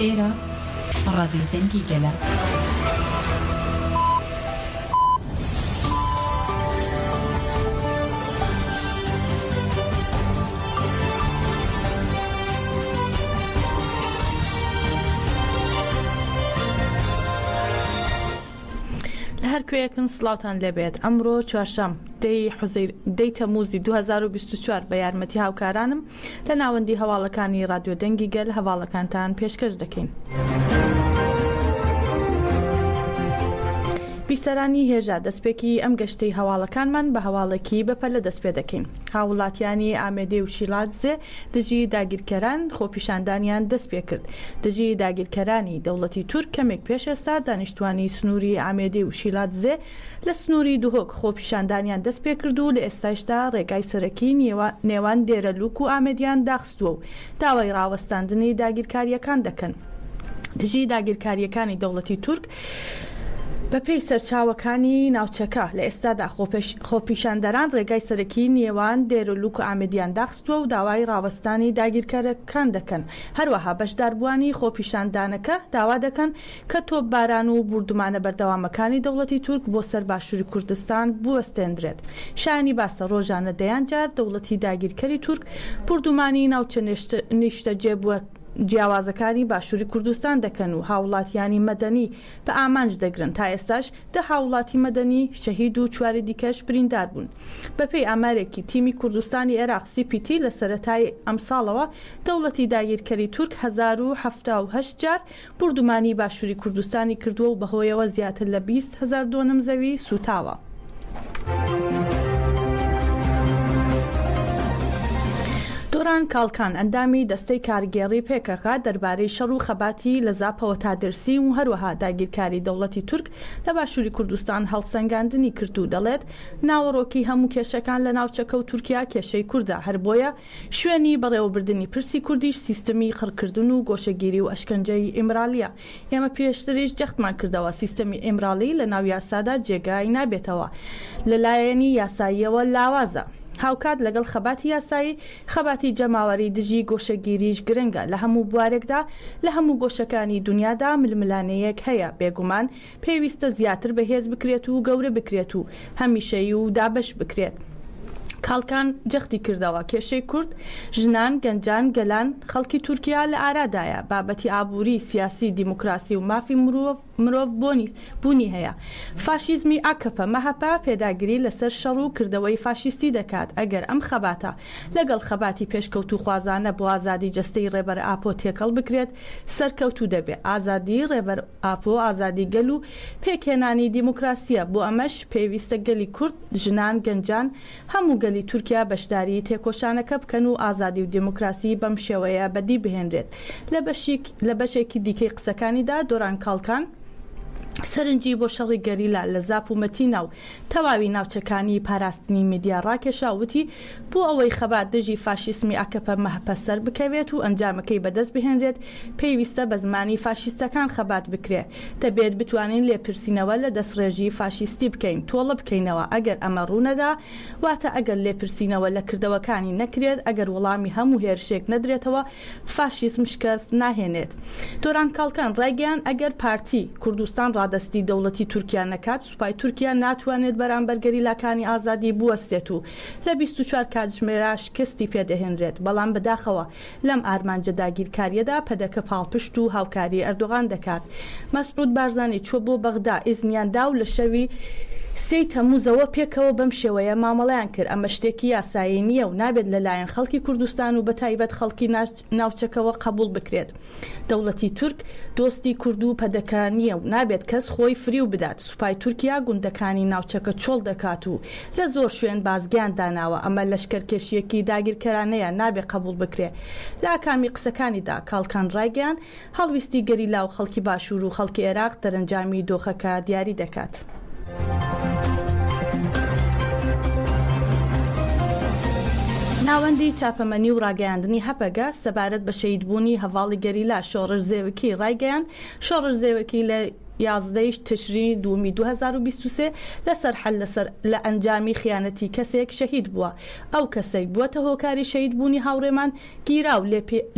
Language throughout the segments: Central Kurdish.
ئێرە ڕادیۆی دەنگی گەلە. لە هەر کوێیەکن سلااوان لەبێت ئەمڕۆ چوارشەم دەی حزیر دەی تەموزی 2024 بە یارمەتی هاوکارانم لە ناوەندی هەواڵەکانی ڕادیۆ دەنگی گەل هەواڵەکانتان پێشکەش دەکەین. بیسەرانی هێژا دەستپێکی ئەم گەشتەی هەواڵەکانمان بە هەواڵێکی بەپەلە دەستپێ دەکەین. هاووڵاتیانی ئامێدێ و شیلادزێ دژی داگیرکەران خۆپیشاندانیان دەستپێکرد. دژی داگیرکەرانی دەوڵەتی تورک کەمێک پێش ئێستا دانیشتوانی سنووری ئامێدێ و شیلادزێ لە سنووری دهۆک خۆپیشاندانیان دەست پێ کرد و لە ئێستایشدا رێگای سەرەکی نێوان دێرەلووک و ئامێدیان داخستووە و داوای راوەستاندنی داگیرکارییەکان دەکەن دژی داگیرکارییەکانی دەوڵەتی تورک. بەپێی سەرچاوەکانی ناوچەکە، لە ئێستادا خۆپیشاندەران رێگای سەرەکی نێوان دێرەلووک و ئامێدیان داخستووە و داوای راوەستانی داگیرکەرەکان دەکەن، هەروەها بەشداربووانی خۆپیشاندانەکە داوا دەکەن کە تۆپباران و بوردومانە بەردەوامەکانی دەوڵەتی تورک بۆ سەر باشوری کوردستان بوەستێندرێت، شایانی باسە رۆژانە دەیان جار دەوڵەتی داگیرکەری تورک بوردومانی ناوچە نیشتەجێ جیاوازەکانی باشوری کوردستان دەکەن و هاوڵاتیانی مەدەنی بە ئامانج دەگرن، تا ئێستاش دە هاوڵاتی مەدەنی شەهید و چواری دیکەش بریندار بوون. بە پێی ئامارێکی تیمی کوردستانی عێراق، سی پی تی، لە سەرەتای ئەمساڵەوە دەوڵەتی داگیرکەری تورک هەزار و حەفتا و هەشت جار بوردومانی باشوری کوردستانی کردووە و بەهۆیەوە زیاتر لە بیست هەزار دۆنم زەوی سووتاوە. دوران کاڵکان، ئەندامی دەستەی کارگێڕی پەکەکە دەربارەی شەڕ و خەباتی لە زاپەوە تا دێرسیم و هەروەها داگیرکاری دەوڵەتی تورک لە باشوری کوردستان هەڵسەنگاندنی کرد و دەڵێت، ناوەڕۆکی هەموو کێشەکان لە ناوچەکە و تورکیا کێشەی کوردە، هەر بۆیە شوێنی بەڕێوەبردنی پرسی کوردیش سیستمی قڕکردن و گۆشەگیری و ئەشکەنجەی ئیمرالییە. ئێمە پێشتریش جەختمان کردەوە سیستمی ئیمرالی لە ناو یاسادا جێگای نابێتەوە، لە لایەنی یاساییەوە لاوازە. هاوکات لەگەڵ خەباتی یاسایی، خەباتی جەماوەری دژی گۆشەگیریش گرنگە لە هەموو بوارێکدا، لە هەموو گۆشەکانی دونیادا ململانێیەک هەیە، بێگومان پێویستە زیاتر بەهێز بکرێت و گەورە بکرێت و هەمیشەیی و دابەش بکرێت. کاڵکان جەختی کردەوە، کێشەی کورد، ژنان، گەنجان، گەلان، خەڵکی تورکیا لە ئارادایە، بابەتی ئابووری، سیاسی، دیموکراسی و مافی مرۆڤ بۆنی بوونی هەیە. فاشیزمی ئاکەپە، مەهەپە پێداگری لەسەر شەڕ و کردەوەی فاشیستی دەکات، ئەگەر ئەم خەباتە لەگەڵ خەباتی پێشکەوتووخوازانە بۆ ئازادی جەستەی ڕێبەر ئاپۆ تێکەڵ بکرێت، سەرکەوتوو دەبێت. ئازادی ڕێبەر. ئاپۆ ئازادی گەل و پێکهێنانی دیموکراسییە، بۆ ئەمەش پێویستە گەلی کورد، ژنان، گەنجان، هەموو گەلی تورکیا بەشداریی تێکۆشانەکە بکەن و ئازادی و دیموکراسی بەم شێوەیە بەدی بهێنرێت. لە بەشیک لە بەشێکی دیکەی قسەکانیدا دۆران کاڵکان سەرنجی بۆ شەڕی گەریلا لە زاپ و مەتینا و تەواوی ناوچەکانی پاراستنی میدیا ڕاکێشا و وتی، بۆ ئەوەی خەبات دژی فاشیسمی ئاکەپە-مەهەپە سەربکەوێت و ئەنجامەکەی بەدەست بهێنرێت، پێویستە بە زمانی فاشیستەکان خەبات بکرێ. دەبێت بتوانین لێپرسینەوە لە دەسڕێژی فاشیستی بکەین، تۆڵە بکەینەوە. ئەگەر ئەمە ڕوو نەدا، واتە ئەگەر لێپرسینەوە لە کردەوەکانی نەکرێت، ئەگەر وەڵامی هەموو هێرشێک نەدرێتەوە، فاشیسم شکست ناهێنێت. تۆران کاڵکان ڕایگەیاند، ئەگەر پارتی کوردستان ڕادەستی دەوڵەتی تورکیا نەکات، سوپای تورکیا ناتوانێت بەرامبەر گەریلاکانی ئازادی بوەستێت و لە بیست و چوار کاتژمێرا شکستی پێدەهێنرێت، بەڵام بەداخەوە لەم ئارمانجە داگیرکارییەدا پەدەکە پاڵپشت و هاوکاری ئەردۆغان دەکات. مەسعود بارزانی چووە بۆ بەغدا، ئیزنیان دا و لە شەوی سێی تەمووزەوە پێکەوە بەم شێوەیە مامەڵەیان کرد، ئەمە شتێکی یاسایی نییە و نابێت لەلایەن خەڵکی کوردستان و بەتایبەت خەڵکی ناوچەکەوە قەبوڵ بکرێت دەوڵەتی تورک دۆستی کوردو پەدەکە نیە و نابێت کەس خۆی فریو بدات سوپای تورکیا گوندەکانی ناوچەکە چۆڵ دەکات و لە زۆر شوێن بازگەیان داناوە ئەمە لەشکەرکێشیەکی داگیرکەرانەیە نابێت قەبوڵ بکرێت لە ئاکامی قسەکانیدا کاڵکان ڕایگەیاند هەڵویستی گەریلا و خەڵکی باشوور و خەڵکی عێراق دەرەنجامی دۆخەکە دیاری دەکات. ناوەندی چاپەمەنی و ڕاگەیاندنی هەپەگە سەبارەت بە شەهیدبوونی هەڤاڵی گەریلا شۆڕش زێوکی ڕایگەیاند، شۆڕش زێوکی لە یازدە ی تشرینی دووەمی دوو هەزار و بیست و سێ لە سەرحەل لە ئەنجامی خیانەتی کەسێک شەهید بووە، ئەو کەسەی بووەتە هۆکاری شەهیدبوونی هاوڕێمان گیرا و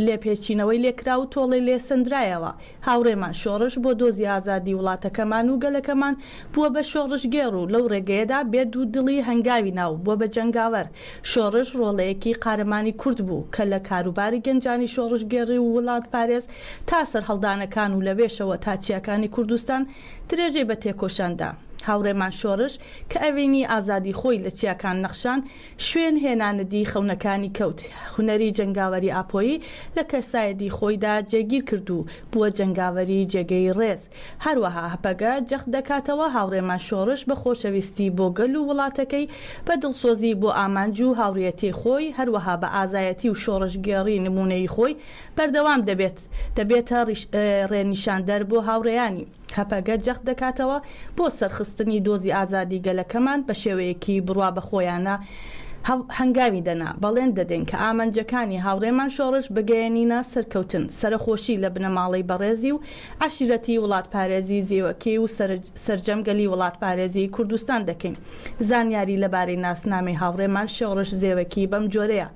لێپێچینەوەی لێکرا و تۆڵەی لێ سەندرایەوە. هاوڕێمان شۆڕش بۆ دۆزی ئازادی وڵاتەکەمان و گەلەکەمان بووە بە شۆڕشگێڕ و لەو ڕێگەیەدا بێ دوودڵی هەنگاوی نا و بووە بە جەنگاوەر. شۆڕش ڕۆڵەیەکی قارەمانی کورد بوو کە لە کاروباری گەنجانی شۆڕشگێڕی و وڵاتپارێز تا سەرهەڵدانەکان و لەوێشەوە تا چیاکانی کوردستان درێژەی بە تێکۆشان دا. هاوڕێمان شۆڕش کە ئەوینی ئازادی خۆی لە چیاکان نەخشان، شوێن هێنانەدی خەونەکانی کەوت، هونەری جەنگاوەری ئاپۆیی لە کەسایەدی خۆیدا جێگیر کرد و بووە جەنگاوەری جێگەی ڕێز. هەروەها هەپەگە جەخت دەکاتەوە هاوڕێمان شۆڕش بە خۆشەویستی بۆ گەل و وڵاتەکەی، بە دڵسۆزی بۆ ئامانج و هاوڕیەتی خۆی، هەروەها بە ئازایەتی و شۆڕشگێڕی نموونەیی خۆی بەردەوام دەبێت، دەبێتە ڕێنیشاندەر بۆ هاوڕێیانی. هەپەگە جەخت دەکاتەوە، بۆ سەرخستنی دۆزی ئازادی گەلەکەمان بە شێوەیەکی بڕوابەخۆیانە هەنگاوی دەنا، بەڵێن دەدەین کە ئامانجەکانی هاوڕێمان شۆڕش بگەیەنینە سەرکەوتن، سەرەخۆشی لە بنەماڵەی بەڕێزی و عەشیرەتی وڵاتپارێزی زیوەکەی و سەرجەم گەلی وڵاتپارێزی کوردستان دەکەین، زانیاری لەبارەی ناسنامەی هاوڕێمان شۆڕش زێوەکی بەمجۆرەیە.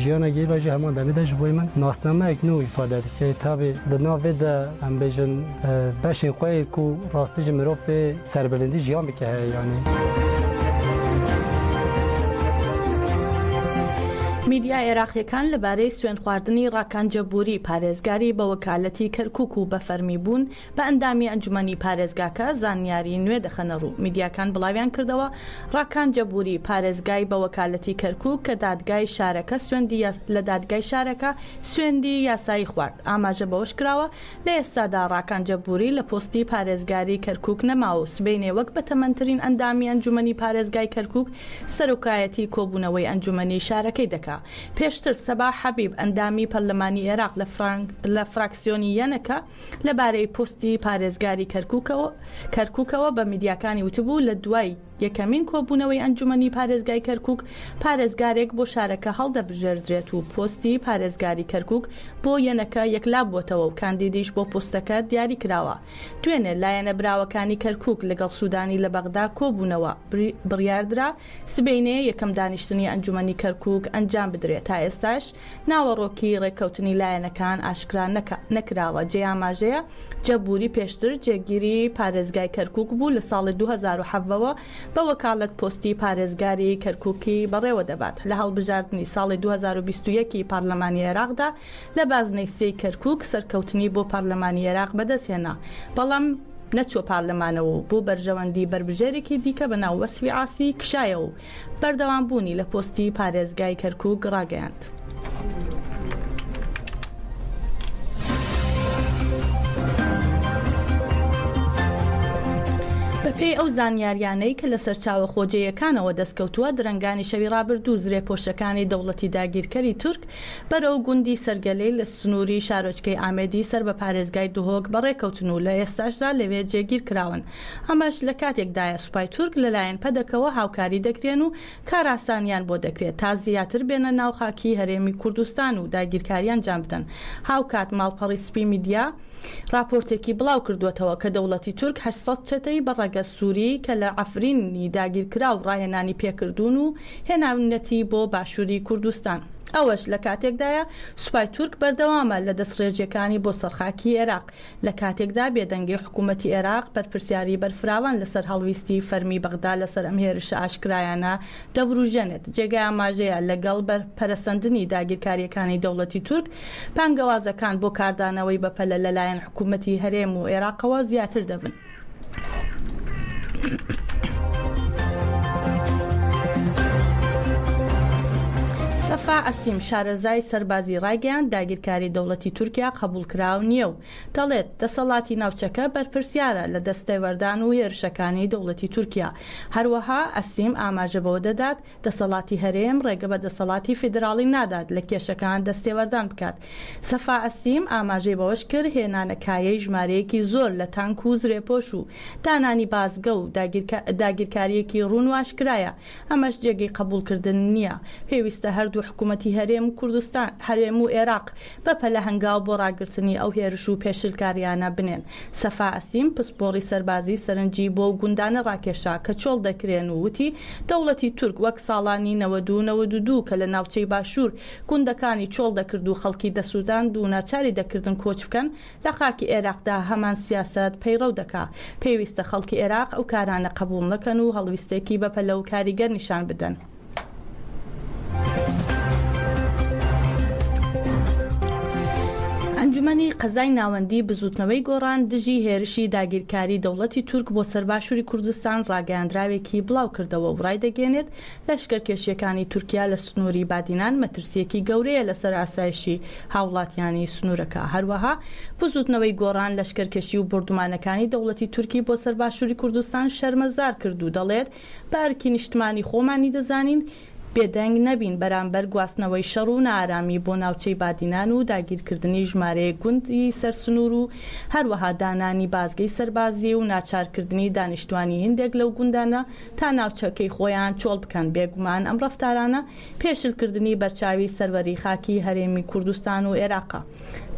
ژیانە گی بەژی هەمان دەمی دەژ بوی من ناسنامەیەک نوو ئیفادە دکەی تابێ دە ناڤێ دە ئەم بێژن بەشین خوەی کو ڕاستی ژ مرۆڤ پێ سەربلندی ژیان بکە هەیە یانی. میدیا عێراقییەکان لەبارەی سوێندخواردنی ڕاکان جەبووری پارێزگاری بەوەکالەتی کەرکووک و بەفەرمیبوون بە ئەندامی ئەنجومەنی پارێزگاکە زانیاری نوێ دەخەنە ڕوو، میدیاکان بڵاویان کردەوە، ڕاکان جەبوری، پارێزگای بە وەکالەتی کەرکوک کە دادگای شارەکە سوێندی یا لە دادگای شارەکە سوێندی یاسایی خوارد، ئاماژە بەوەش کراوە، لە ئێستادا ڕاکان جەبوری لە پۆستی پارێزگاری کەرکوک نەماوە و سبەینێ وەک بەتەمەنترین ئەندامی ئەنجومەنی پارێزگای کەرکوک سەرۆکایەتی کۆبونەوەی ئەنجومەنی شارەکەی دەکا پێشتر سەباح حەبیب ئەندامی پەرلەمانی ئێراق لە فراکسیۆنی یەنەکە لەبارەی پۆستی پارێزگاری کەرکوکەوە بە میدیاکانی وتبوو، لە دوای یەکەمین کۆبوونەوەی ئەنجومەنی پارێزگای کەرکوک، پارێزگارێک بۆ شارەکە هەڵدەبژێردرێت و پۆستی پارێزگاری کەرکوک بۆ یەنەکە یەکلابووەتەوە و کاندیدیش بۆ پۆستەکە دیاریکراوە. دوێنێ لایەنە براوەکانی کەرکوک لەگەڵ سودانی لە بەغدا کۆبوونەوە، بڕیاردرا سبەینێ یەکەم دانیشتنی ئەنجومەنی کەرکوک ئەنجامبدرێت، تا ئێستاش ناوەڕۆکی ڕێککەوتنی لایەنەکان ئاشکرا نەکراوە، جێی ئاماژەیە جە بوری پێشتر جێگیری پارێزگای کەرکووک بوو، لە ساڵی دوو هەزار و حەڤە وە بە وەکالەت پۆستی پارێزگاری کەرکووکی بەڕێوە دەبات، لە هەڵبژاردنی ساڵی دوو هەزار و بیست و یەک ی پارلەمانی عێراقدا لە بازنەی سێ ی کەرکووک سەرکەوتنی بۆ پارلەمانی عێراق بەدەستهێنا، بەڵام نەچووە پارلەمانەوە و بۆ بەرژەوەندی بەربژێرێکی دیکە بە ناو وەسفی عاسی کشایەوە و بەردەوام بوونی لە پۆستی پارێزگای کەرکوک ڕاگەیاند. بەپێی ئەو زانیاریانەی کە لە سەرچاوە خۆجێیەکانەوە دەستکەوتووە درەنگانی شەوی ڕابردوو زرێ پۆشەکانی دەوڵەتی داگیرکەری تورک بەرەو گوندی سەرگەلەی لە سنووری شارۆچکەی ئامێدی سەر بە پارێزگای دهۆک بەڕێکەوتن و لە ئێستاشدا لەوێ جێگیرکراون. ئەمەش لە کاتێکدایە سوپای تورک لەلایەن پەدەکەوە هاوکاری دەکرێن و کارئاسانیان بۆ دەکرێت تا زیاتر بێنە ناو خاکی هەرێمی کوردستان و داگیرکاری ئەنجام بدەن. هاوکات ماڵپەڕی سپی میدیا ڕاپۆرتێکی بڵاوکردووەتەوە کە دەوڵەتی تورک هەشت سەد چەتەی بە ڕەگەز سوری کە لە عەفرینی داگیرکراو ڕاهێنانی پێکردوون و هێناونەتی بۆ باشوری کوردستان. ئەوەش لە کاتێکدایە سوپای تورک بەردەوامە لە دەستڕێژیەکانی بۆ سەر خاکی ئێراق لە کاتێکدا بێدەنگی حکوومەتی ئێراق بەرپرسیاریی بەرفراوان لەسەر هەڵویستی فەرمیی بەغدا لەسەر ئەم هێرشە ئاشکرایانە دەورووژێنێت، جێگای ئاماژەیە لەگەڵ پەرەسەندنی داگیرکارییەکانی دەوڵەتی تورک، بانگەوازەکان بۆ کاردانەوەی بەپەلە لەلایەن حکوومەتی هەرێم و ئێراقەوە زیاتر دەبن. سەفا عەسیم، شارەزای سەربازی ڕایگەیاند، داگیرکاری دەوڵەتی تورکیا قەبووڵکراو نییە و دەڵێت، دەسەڵاتی ناوچەکە بەرپرسیارە لە دەستێوەردان و هێرشەکانی دەوڵەتی تورکیا. هەروەها عەسیم ئاماژە بەوە دەدات، دەسەڵاتی هەرێم ڕێگە بە دەسەڵاتی فیدراڵی نادات لە کێشەکان دەستێوەردان بکات. سەفا عەسیم ئاماژەی بەوەش کرد، هێنانە کایەی ژمارەیەکی زۆر لە تانک و زرێپۆش و دانانی بازگە و داگیرکارییەکی ڕوون و ئاشکرایە، ئەمەش جێگەی قەبووڵکردن نییە، پێویستە هەردوو حکوومەتی هەرێم و کوردستان، هەرێم و ئێراق، بە پەلە هەنگاو بۆ ڕاگرتنی ئەو هێرش و پێشلکارییانە بنێن. سەفا ئەسیم، پسپۆڕی سەربازی سەرنجی بۆو گوندانە ڕاکێشا کە چۆڵ دەکرێن و وتی، دەوڵەتی تورک وەک ساڵانی نەوەد و نەوەد و دوو کە لە ناوچەی باشوور گوندەکانی چۆڵ دەکرد و خەڵکی دەسووتاند و ناچاری دەکردن کۆچ بکەن، لە خاکی ئێراقدا هەمان سیاسەت پەیڕەو دەکا. پێویستە خەڵکی ئێراق ئەو کارانە قەبووڵ نەکەن و هەڵویستێکی بەپەلە و کاریگەر نیشان بدەن. ئەنجومەنی قەزای ناوەندی بزوتنەوەی گۆڕان دژی هێرشی داگیرکاری دەوڵەتی تورک بۆ سەر باشووری کوردستان ڕاگەیاندراوێکی بڵاو کردەوە و ڕایدەگەێنێت لەشکەرکێشیەکانی تورکیا لە سنووری بادینان مەترسیەکی گەورەیە لەسەر ئاسایشی هاوڵاتیانی سنوورەکە هەروەها بزوتنەوەی گۆڕان لەشکەرکێشی و بۆردومانەکانی دەوڵەتی تورکی بۆ سەر باشووری کوردستان شەرمەزار کرد و دەڵێت بە ئەرکی نیشتمانی خۆمانی دەزانین بێدەنگ نەبین بەرامبەر گواستنەوەی شەڕ و نائارامی بۆ ناوچەی بادینان و داگیرکردنی ژمارەیەک گوندی سەر سنوور و هەروەها دانانی بازگەی سەربازی و ناچارکردنی دانیشتوانی هیندێک لەو گوندانە تا ناوچەکەی خۆیان چۆڵ بکەن بێگومان ئەم ڕەفتارانە پێشلکردنی بەرچاوی سەروەری خاکی هەرێمی کوردستان و ئێراقە.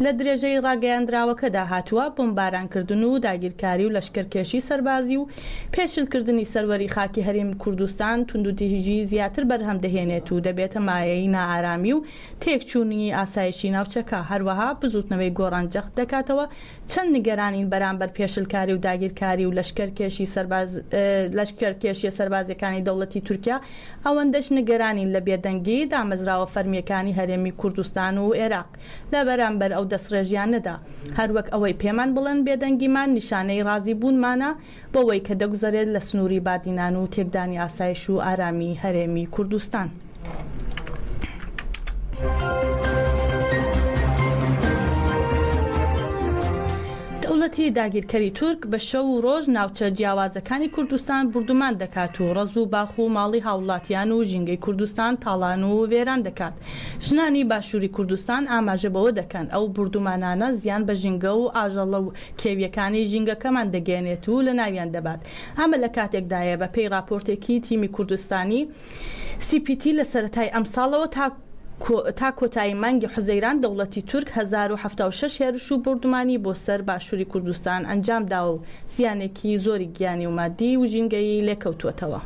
لە درێژەی ڕاگەیاندراوەکەدا هاتووە، بۆمبارانکردن و داگیرکاری و لەشکەرکێشی سەربازی و پێشلکردنی سەروەری خاکی هەرێمی کوردستان توندوتیژیی زیاتر بەرهەم دەهێنێت و دەبێتە مایەی نائارامی و تێکچوونیی ئاسایشی ناوچەکە، هەروەها بزووتنەوەی گۆڕان جەخت دەکاتەوە چەند نیگەرانین بەرامبەر پێشلکاری و داگیرکاری و لەشکەرکێشی سەربازی لەشکەرکێشییە سەربازییەکانی دەوڵەتی تورکیا ئەوەندەش نگرانین لە بێدەنگی دامەزراوە فەرمییەکانی هەرێمی کوردستان و ئێراق لە بەرامبەر ئەو دەستڕێژیانەدا، هەر وەک ئەوەی پێمان بڵێن بێدەنگیمان نیشانەی ڕازیبوونمانە بەوەی کە دەگوزەرێت لە سنووری بادینان و تێکدانی ئاسایش و ئارامی هەرێمی کوردستان. دەوڵەتی داگیرکەری تورک بە شەو و ڕۆژ ناوچە جیاوازەکانی کوردستان بوردومان دەکات و ڕەز و باخ و ماڵی هاوڵاتیان و ژینگەی کوردستان تاڵان و وێران دەکات. ژنانی باشوری کوردستان ئاماژە بەوە دەکەن، ئەو بوردومانانە زیان بە ژینگە و ئاژەڵە و کێویەکانی ژینگەکەمان دەگەیەنێت و لەناویان دەبات. ئەمە لە کاتێکدایە بە پێی ڕاپۆرتێکی تیمی کوردستانی، سی پی تی لە سەرەتای ئەمساڵەوە تا تا کۆتایی مانگی حوزەیران دەوڵەتی تورک هەزار و حەفتا و شەش هێرش و بۆردومانی بۆ سەر باشوری کوردستان ئەنجام داوە و زیانێکی زۆری گیانی و مادی و ژینگەیی لێکەوتووەتەوە.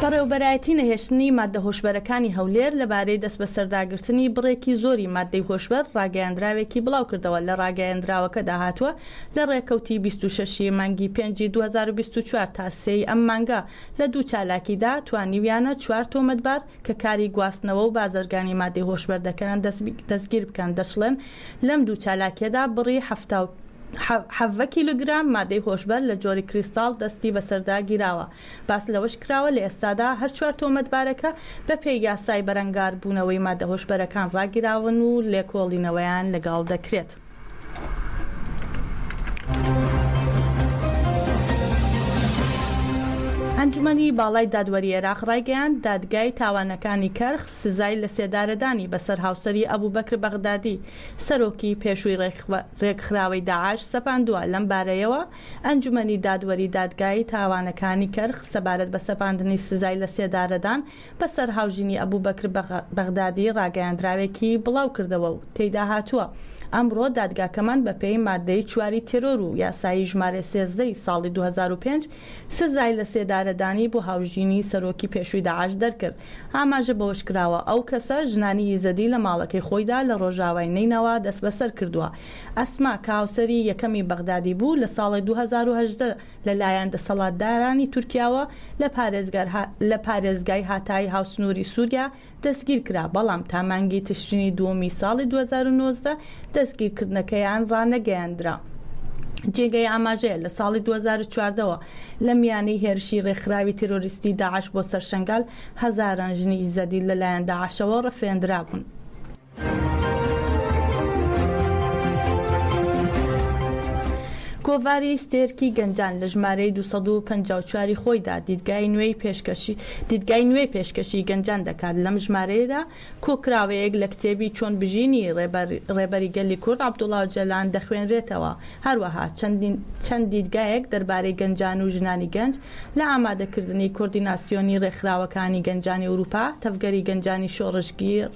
بەڕێوەبەرایەتی نەهێشتنی ماددە هۆشبەرەکانی هەولێر لەبارەی دەستبەسەرداگرتنی بڕێکی زۆری ماددەی هۆشبەر ڕاگەیاندراوێکی بڵاوکردەوە لە ڕاگەیەندراوەکەدا هاتووە، لە ڕێکەوتی بیست و شەش ی مانگی پێنجی دوو هەزار و بیست و چوار تا سێ ی ئەم مانگە لە دوو چالاکیدا توانیویانە چوار تۆمەتبار کە کاری گواستنەوە و بازرگانی مادەی هۆشبەر دەکەن دەستگیر بکەن دەشڵێن لەم دوو چالاکیەدا بڕی حەفتا و حەڤە کیلوگرام مادەی هۆشبەر لە جۆری کریستاڵ دەستی بەسەردا گیراوە باس لەوەش کراوە لە ئێستادا هەر چوار تۆمەتبارەکە بە پێی یاسای بەرەنگاربوونەوەی مادە هۆشبەرەکان ڕاگیراون و لێکۆڵینەوەیان لەگەڵ دەکرێت. ئەنجومەنی باڵای دادوەری عێراق ڕایگەیاند، دادگای تاوانەکانی کەرخ سزای لەسێدارەدانی بەسەر هاوسەری ئەبوبەکر بەغدادی، سەرۆکی پێشووی ڕێکخراوەی داعش سەپاندووە، لەم بارەیەوە ئەنجومەنی دادوەری دادگای تاوانەکانی کەرخ سەبارەت بە سەپاندنی سزای لەسێدارەدان بەسەر هاوژینی ئەبوبەکر بەغدادی ڕاگەیاندراوێکی بڵاوکردەوە و تێیدا هاتووە، ئەمڕۆ دادگاکەمان بەپێی ماددەی چواری تێرۆر و یاسایی ژمارە سێزدە ی ساڵی دوو هەزار و پێنج سزای لەسێدارەدانی بۆ هاوژینی سەرۆکی پێشووی داعش دەرکرد، ئاماژە بەوەشکراوە، ئەو کەسە ژنانی یزدی لە ماڵەکەی خۆیدا لە ڕۆژاوای نەینەوا دەستبەسەرکردووە، ئەسما کە هاوسەری یەکەمی بەغدادی بوو لە ساڵی دوو هەزار و هەژدە. لە لایەن دەسەڵاتدارانی تورکیاوە لە پارێزگای هاتایی هاوسنووری سووریا دەستگیر کرا، بەڵام تا مانگی تشرینی دووەمی ساڵی دوو هەزار و نۆزدە دەستگیرکردنەکەیان ڕانەگەیەندرا. جێگەی ئاماژەیە لە ساڵی دوو هەزار و چواردە وە لە میانەی هێرشی ڕێکخراوی تێرۆریستی داعش بۆ سەر شەنگال، هەزاران ژنی ئیزەدی لە لایەن داعشەوە ڕفێندرابوون. کۆڤاری ستێرکی گەنجان لە ژمارەی دوو سەد و پەنجا و چوار ی خۆیدا دیدگای نوێی پێشکەشی دیدگای نوێ پێشکەشی گەنجان دەکات، لەم ژمارەیەدا کۆکراوەیەک لە کتێبی چۆن بژینی ڕێبەر ڕێبەری گەلی کورد عەبدوڵا ئۆجالان دەخوێنرێتەوە، هەروەها چەند چەند دیدگایەک دەربارەی گەنجان و ژنانی گەنج لە ئامادەکردنی کۆردیناسیۆنی ڕێکخراوەکانی گەنجانی ئورووپا، تەڤگەری گەنجانی شۆڕشگێڕ.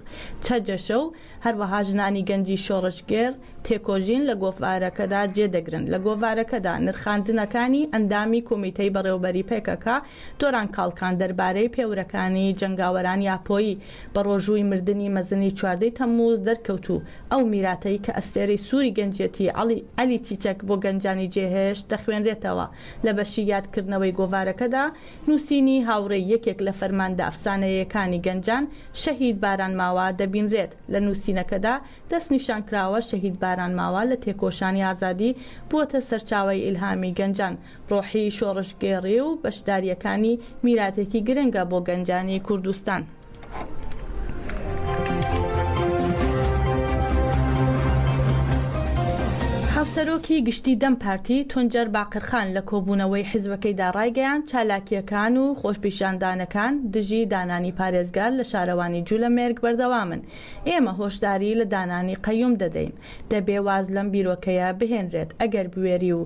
چەجەشە و هەروەها ژنانی گەنجی شۆڕشگێڕ تێکۆژین لە گۆڤارەکەدا جێ دەگرن. لە گۆڤارەکەدا نرخاندنەکانی ئەندامی کومیتەی بەڕێوەبەری پەکەکە، تۆران کاڵکان دەربارەی پێورەکانی جەنگاوەرانی ئاپۆیی بە ڕۆژووی مردنی مەزنی چواردە ی تەمموز دەرکەوت و ئەو میراتەی کە ئەستێرەی سووری گەنجیەتی عەلی چیچەک بۆ گەنجانی جێهێشت دەخوێنرێتەوە لە بەشی یادکردنەوەی گۆڤارەکەدا نووسینی هاوڕێی یەکێک لە فەرماندە ئەفسانەیەکانی گەنجان، شەهید باران ماوا، دەبینرێت، لە نووسینەکەدا دەستنیشانکراوە شەهید باران ماوا لە تێکۆشانی ئازادی بووەتە سەرچاوەی ئیلهامی گەنجان، ڕۆحی شۆڕشگێڕی و بەشدارییەکانی میراتێکی گرنگە بۆ گەنجانی کوردستان. هاوسەرۆکی گشتی دەم پارتی تونجەر باقرخان لە کۆبوونەوەی حزبەکەیدا ڕایگەیاند، چالاکییەکان و خۆشپیشاندانەکان دژی دانانی پارێزگار لە شارەوانی جولەمێرگ بەردەوامن، ئێمە هۆشداری لە دانانی قەیوم دەدەین، دەبێ واز لەم بیرۆکەیە بهێنرێت، ئەگەر بوێری و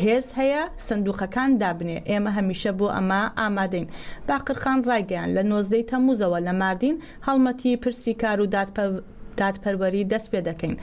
هێز هەیە سندووقەکان دابنێ، ئێمە هەمیشە بۆ ئەمە ئامادەین. باقرخان ڕایگەیاند، لە نۆزدەی تەمووزەوە لە ماردین هەڵمەتی پرسی کار و دادپەروەری دەست پێ دەکەین،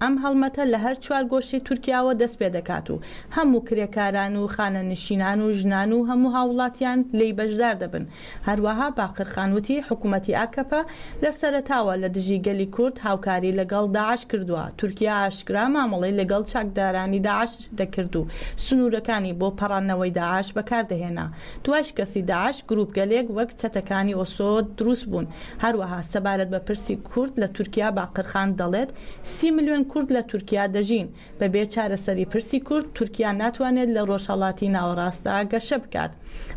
ئەم هەڵمەتە لە هەر چوار گۆشەی تورکیاوە دەست پێ دەکات و هەموو کرێکاران و خانەنشینان و ژنان و هەموو هاووڵاتیان لێی بەشدار دەبن، هەروەها باقرخان وتی، حکومەتی ئاکەپە لە سەرەتاوە لە دژی گەلی کورد هاوکاری لەگەڵ داعش کردووە، تورکیا ئاشکرا مامەڵەی لەگەڵ چاکدارانی داعش دەکرد و سنوورەکانی بۆ پەڕاندنەوەی داعش بەکاردەهێنا، دوای شکستی داعش گرووپگەلێک وەک چەتەکانی ئۆسۆ دروست بوون، هەروەها سەبارەت بە پرسی کورد لە تورکیا باقرخان دەڵێت، سی ملیۆن کورد لە تورکیا دەژین، بەبێ چارەسەری پرسی کورد، تورکیا ناتوانێت لە رۆژهەڵاتی ناوەڕاستدا گەشە بکات.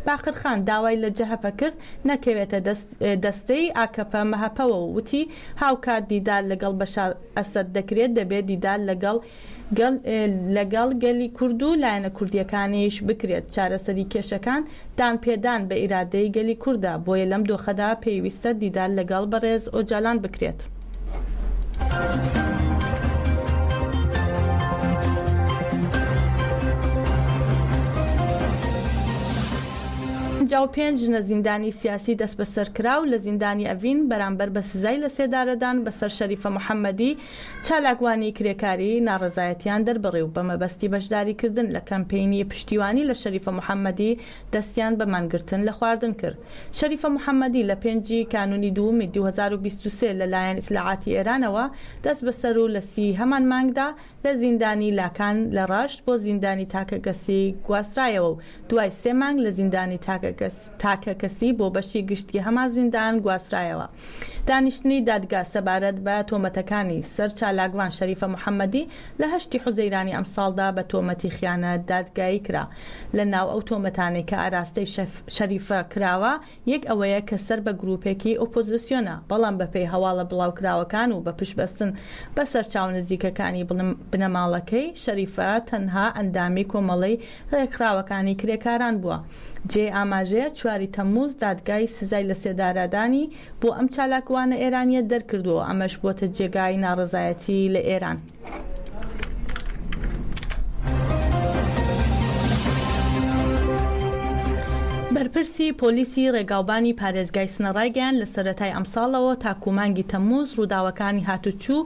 باقرخان داوای لە جەهەپە کرد نەکەوێتە دەست دەستەی ئاکەپە-مەهەپەوە و وتی، هاوکات دیدار لەگەڵ بەشار ئەسەد دەکرێت، دەبێت دیدار لەگەڵ گەڵ لەگەڵ گەلی کورد و لایەنە کوردییەکانیش بکرێت، چارەسەری کێشەکان دانپێدان بە ئیرادەی گەلی کوردە، بۆیە لەم دۆخەدا پێویستە دیدار لەگەڵ بەڕێز ئۆجالان بکرێت. پەنجا و پێنج ژنە زیندانی سیاسی دەسبەسەرکراو لە زیندانی ئەڤین بەرامبەر بە سزای لەسێدارەدان بەسەر شەریفە محەممەدی، چالاکوانی کرێکاری ناڕەزایەتییان دەربڕی و بە مەبەستی بەشداریکردن لە کەمپەینی پشتیوانی لە شەریفە محەممەدی دەستیان بە مانگرتن لە خواردن کرد. شەریفە محەممەدی لە پێنج ی کانوونی دوومی دوو هەزار و بیست و سێ لە لایەن ئیتلاعاتی ئێرانەوە دەستبەسەر و لە سی ی هەمان مانگدا لە زیندانی لاکان لە ڕەشت بۆ زیندانی تاکەکەسی گواسترایەوە و دوای سێ مانگ لە زیندانی تاکەکەس تاکەکەسی بۆ بەشی گشتی هەمان زیندان گواسترایەوە. دانیشتنی دادگا سەبارەت بە تۆمەتەکانی سەر چالاکڤان شەریفە محەممەدی لە هەشتی حوزەیرانی ئەمساڵدا بە تۆمەتی خیانەت دادگایی کرا. لە ناو ئەو تۆمەتانەی کە ئاراستەی شەریفە کراوە یەک ئەوەیە کە سەر بە گرووپێکی ئۆپۆزیسیۆنە، بەڵام بەپێی هەواڵە بڵاوکراوەکان و بە پشتبەستن بە سەرچاوە نزیکەکانی بنەماڵەکەی شەریفە تەنها ئەندامی کۆمەڵەی ڕێکخراوەکانی کرێکاران بووە. جێی ئاماژەیە چواری تەمموز دادگای سزای لەسێدارەدانی بۆ ئەم چالاکوانە ئێرانییە دەرکردووە و ئەمەش بۆتە جێگای ناڕەزایەتی لە ئێران. بەرپرسی پۆلیسی ڕێگاوبانی پارێزگای سنە ڕایگەیاند، لە سەرەتای ئەمساڵەوە تاکوو مانگی تەمموز ڕووداوەکانی هاتوچو،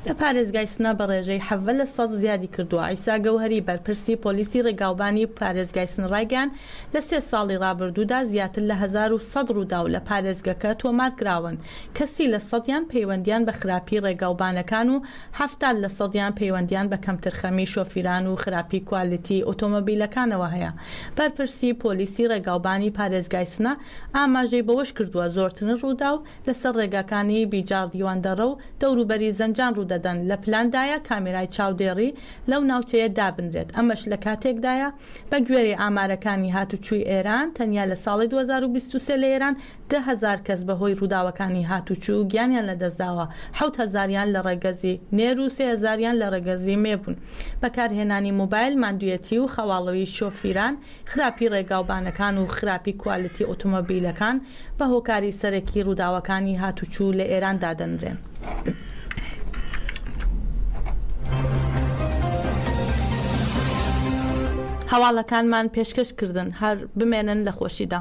لە پارێزگای سنە بە ڕێژەی حەڤە لە سەد زیادی کردووە. عیسا گەوهەری بەرپرسی پۆلیسی ڕێگاوبانی پارێزگای سنە ڕایگەیاند، لە سێ ساڵی ڕابردوودا زیاتر لە هەزار و سەد ڕووداو لە پارێزگەکە تۆمار کراون کە سی لە سەدیان پەیوەندیان بە خراپی ڕێگاوبانەکان و حەفتاد لە سەدیان پەیوەندیان بە کەمترخەمی شۆفیران و خراپی کوالیتی ئۆتۆمۆبیلەکانەوە هەیە. بەرپرسی پۆلیسی ڕێگاوبانی پارێزگای سنە ئاماژەی بەوەشکردووە، زۆرترن رووداو لەسەر رێگاکانی بیجاڕ دیواندەڕە و دەوروبەری زەنجان روودەدەن، لە پلاندایە کامێرای چاودێڕی لەو ناوچەیە دابنرێت، ئەمەش لەکاتێکدایە بەگوێرەی ئامارەکانی هاتووچووی ئێران تەنیا لە ساڵی دوو هەزار و بیست و سێ لە ئێران دە هەزار کەس بەهۆی رووداوەکانی هاتووچوو گیانیان لەدەستداوە، حەوت هەزاریان لە رەگەزی نێر و سێ هەزاریان لە رەگەزی مێ بوون، بەکارهێنانی مۆبایل، ماندووێتی و خەواڵوی شۆفیران، خراپی ڕێگاوبانەکان و خراپی کوالێتی ئۆتۆمۆبیلەکان بە هۆکاری سەرەکی ڕووداوەکانی هاتووچوو لە ئێران دادەنرێن. هەواڵەکانمان پێشکەش کردن، هەر بمێنن لە خۆشیدا.